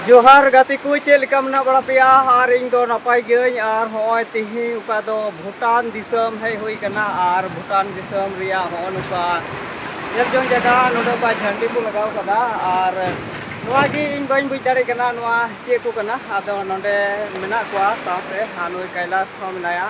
ᱡᱚᱦᱟᱨ ᱜᱟᱛᱮ ᱠᱚ ᱪᱮᱫ ᱞᱮᱠᱟ ᱢᱮᱱᱟᱜ ᱵᱟᱲᱟ ᱯᱮᱭᱟ ᱟᱨ ᱤᱧ ᱫᱚ ᱱᱟᱯᱟᱭ ᱜᱤᱭᱟᱹᱧ ᱟᱨ ᱦᱚᱸᱜᱼᱚᱭ ᱛᱮᱦᱮᱧ ᱚᱠᱟ ᱫᱚ ᱵᱷᱩᱴᱟᱱ ᱫᱤᱥᱚᱢ ᱦᱮᱡ ᱦᱩᱭ ᱠᱟᱱᱟ ᱟᱨ ᱵᱷᱩᱴᱟᱱ ᱫᱤᱥᱚᱢ ᱨᱮᱭᱟᱜ ᱦᱚᱸᱜᱼᱚ ᱱᱚᱝᱠᱟ ᱧᱮᱞ ᱡᱚᱝ ᱡᱟᱭᱜᱟ ᱱᱚᱰᱮ ᱚᱠᱟ ᱡᱷᱟᱹᱱᱴᱤ ᱠᱚ ᱞᱟᱜᱟᱣ ᱠᱟᱫᱟ ᱟᱨ ᱱᱚᱣᱟ ᱜᱮ ᱤᱧ ᱵᱟᱹᱧ ᱵᱩᱡᱽ ᱫᱟᱲᱮᱭᱟᱜ ᱠᱟᱱᱟ ᱱᱚᱣᱟ ᱪᱮᱫ ᱠᱚ ᱠᱟᱱᱟ ᱟᱫᱚ ᱱᱚᱰᱮ ᱢᱮᱱᱟᱜ ᱠᱚᱣᱟ ᱥᱟᱶᱛᱮ ᱟᱨ ᱱᱩᱭ ᱠᱟᱭᱞᱟᱥ ᱦᱚᱸ ᱢᱮᱱᱟᱭᱟ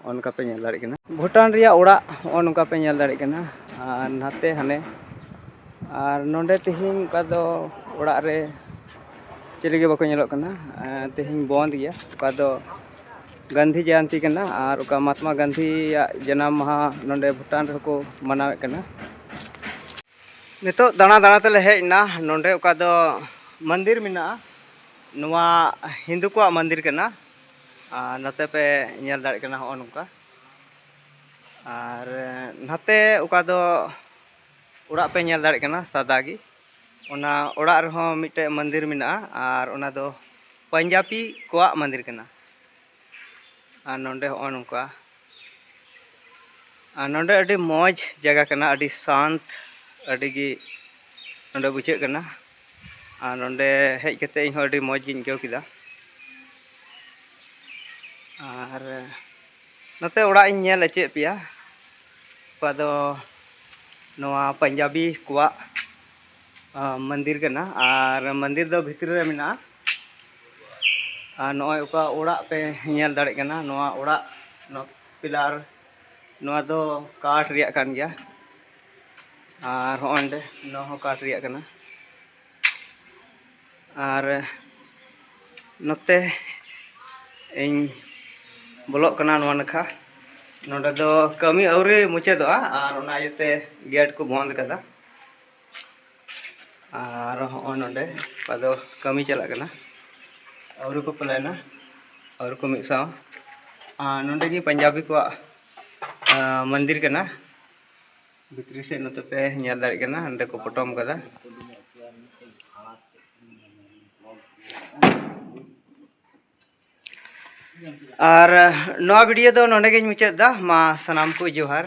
ᱱᱚᱜᱼᱚ ᱱᱚᱝᱠᱟ ᱯᱮ ᱧᱮᱞ ᱫᱟᱲᱮᱭᱟᱜ ᱠᱟᱱᱟ ᱵᱷᱩᱴᱟᱱ ᱨᱮᱭᱟᱜ ᱚᱲᱟᱜ ᱱᱚᱜᱼᱚ ᱱᱚᱝᱠᱟ ᱯᱮ ᱧᱮᱞ ᱫᱟᱲᱮᱭᱟᱜ ᱠᱟᱱᱟ ᱟᱨ ᱱᱟᱛᱮ ᱦᱟᱱᱮ ᱟᱨ ᱱᱚᱰᱮ ᱛᱮᱦᱮᱧ ᱚᱠᱟ ᱫᱚ ᱚᱲᱟᱜ ᱨᱮ ᱪᱤᱞᱤ ᱜᱮ ᱵᱟᱠᱚ ᱧᱮᱞᱚᱜ ᱠᱟᱱᱟ ᱛᱮᱦᱮᱧ ᱵᱚᱸᱫᱽ ᱜᱮᱭᱟ ᱚᱠᱟ ᱫᱚ ᱜᱟᱱᱫᱷᱤ ᱡᱚᱭᱚᱱᱛᱤ ᱠᱟᱱᱟ ᱟᱨ ᱚᱠᱟ ᱢᱟᱦᱟᱛᱢᱟ ᱜᱟᱱᱫᱷᱤᱭᱟᱜ ᱡᱟᱱᱟᱢ ᱢᱟᱦᱟ ᱱᱚᱰᱮ ᱵᱷᱩᱴᱟᱱ ᱨᱮᱦᱚᱸ ᱠᱚ ᱢᱟᱱᱟᱣᱮᱫ ᱠᱟᱱᱟ ᱱᱤᱛᱚᱜ ᱫᱟᱬᱟ ᱫᱟᱬᱟ ᱛᱮᱞᱮ ᱦᱮᱡ ᱮᱱᱟ ᱱᱚᱰᱮ ᱚᱠᱟ ᱫᱚ ᱢᱚᱱᱫᱤᱨ ᱢᱮᱱᱟᱜᱼᱟ ᱱᱚᱣᱟ ᱦᱤᱱᱫᱩ ᱠᱚᱣᱟᱜ ᱢᱚᱱᱫᱤᱨ ᱠᱟᱱᱟ ᱟᱨ ᱱᱚᱛᱮ ᱯᱮ ᱧᱮᱞ ᱫᱟᱲᱮᱭᱟᱜ ᱠᱟᱱᱟ ᱦᱚᱸᱜᱼᱚ ᱱᱚᱝᱠᱟ ᱟᱨ ᱱᱟᱛᱮ ᱚᱠᱟ ᱫᱚ ᱚᱲᱟᱜ ᱯᱮ ᱧᱮᱞ ᱫᱟᱲᱮᱭᱟᱜ ᱠᱟᱱᱟ ᱥᱟᱫᱟ ᱜᱮ ᱚᱱᱟ ᱚᱲᱟᱜ ᱨᱮᱦᱚᱸ ᱢᱤᱫᱴᱮᱡ ᱢᱚᱱᱫᱤᱨ ᱢᱮᱱᱟᱜᱼᱟ ᱟᱨ ᱚᱱᱟ ᱫᱚ ᱯᱟᱧᱡᱟᱵᱤ ᱠᱚᱣᱟᱜ ᱢᱚᱱᱫᱤᱨ ᱠᱟᱱᱟ ᱟᱨ ᱱᱚᱰᱮ ᱦᱚᱸᱜᱼᱚ ᱱᱚᱝᱠᱟ ᱟᱨ ᱱᱚᱰᱮ ᱟᱹᱰᱤ ᱢᱚᱡᱽ ᱡᱟᱭᱜᱟ ᱠᱟᱱᱟ ᱟᱹᱰᱤ ᱥᱟᱱᱛ ᱟᱹᱰᱤ ᱜᱮ ᱱᱚᱰᱮ ᱵᱩᱡᱷᱟᱹᱜ ᱠᱟᱱᱟ ᱟᱨ ᱱᱚᱰᱮ ᱦᱮᱡ ᱠᱟᱛᱮᱫ ᱤᱧ ᱦᱚᱸ ᱟᱹᱰᱤ ᱢᱚᱡᱽ ᱜᱤᱧ ᱟᱹᱭᱠᱟᱹᱣ ᱠᱮᱫᱟ ᱟᱨ ᱱᱚᱛᱮ ᱚᱲᱟᱜ ᱤᱧ ᱧᱮᱞ ᱦᱚᱪᱚᱭᱮᱫ ᱯᱮᱭᱟ ᱚᱠᱟ ᱫᱚ ᱱᱚᱣᱟ ᱯᱟᱧᱡᱟᱵᱤ ᱠᱚᱣᱟᱜ ᱢᱚᱱᱫᱤᱨ ᱠᱟᱱᱟ ᱟᱨ ᱢᱚᱱᱫᱤᱨ ᱫᱚ ᱵᱷᱤᱛᱨᱤ ᱨᱮ ᱢᱮᱱᱟᱜᱼᱟ ᱟᱨ ᱱᱚᱜᱼᱚᱭ ᱚᱠᱟ ᱚᱲᱟᱜ ᱯᱮ ᱧᱮᱞ ᱫᱟᱲᱮᱭᱟᱜ ᱠᱟᱱᱟ ᱱᱚᱣᱟ ᱚᱲᱟᱜ ᱱᱚᱣᱟ ᱯᱤᱞᱟᱨ ᱱᱚᱣᱟ ᱫᱚ ᱠᱟᱴ ᱨᱮᱭᱟᱜ ᱠᱟᱱ ᱜᱮᱭᱟ ᱟᱨ ᱦᱚᱸᱜᱼᱚᱭ ᱱᱚᱸᱰᱮ ᱱᱚᱣᱟ ᱦᱚᱸ ᱠᱟᱴ ᱨᱮᱭᱟᱜ ᱠᱟᱱᱟ ᱟᱨ ᱱᱚᱛᱮ ᱤᱧ ᱵᱚᱞᱚᱜ ᱠᱟᱱᱟ ᱱᱚᱣᱟ ᱱᱟᱠᱷᱟ ᱱᱚᱸᱰᱮ ᱫᱚ ᱠᱟᱹᱢᱤ ᱟᱹᱣᱨᱤ ᱢᱩᱪᱟᱹᱫᱚᱜᱼᱟ ᱟᱨ ᱚᱱᱟ ᱤᱭᱟᱹᱛᱮ ᱜᱮᱴ ᱠᱚ ᱵᱚᱱᱫᱽ ᱠᱟᱫᱟ ᱟᱨ ᱦᱚᱸᱜᱼᱚᱭ ᱱᱚᱰᱮ ᱚᱠᱟ ᱫᱚ ᱠᱟᱹᱢᱤ ᱪᱟᱞᱟᱜ ᱠᱟᱱᱟ ᱟᱹᱣᱨᱤ ᱠᱚ ᱯᱞᱮᱱᱟ ᱟᱹᱣᱨᱤ ᱠᱚ ᱢᱤᱫ ᱥᱟᱶ ᱟᱨ ᱱᱚᱰᱮ ᱜᱮ ᱯᱟᱧᱡᱟᱵᱤ ᱠᱚᱣᱟᱜ ᱢᱚᱱᱫᱤᱨ ᱠᱟᱱᱟ ᱵᱷᱤᱛᱨᱤ ᱥᱮᱫ ᱱᱚᱛᱮ ᱯᱮ ᱧᱮᱞ ᱫᱟᱲᱮᱭᱟᱜ ᱠᱟᱱᱟ ᱱᱚᱰᱮ ᱠᱚ ᱯᱚᱴᱚᱢ ᱠᱟᱫᱟ ᱟᱨ ᱱᱚᱣᱟ ᱵᱷᱤᱰᱤᱭᱳ ᱫᱚ ᱱᱚᱰᱮ ᱜᱤᱧ ᱢᱩᱪᱟᱹᱫ ᱮᱫᱟ ᱢᱟ ᱥᱟᱱᱟᱢ ᱠᱚ ᱡᱚᱦᱟᱨ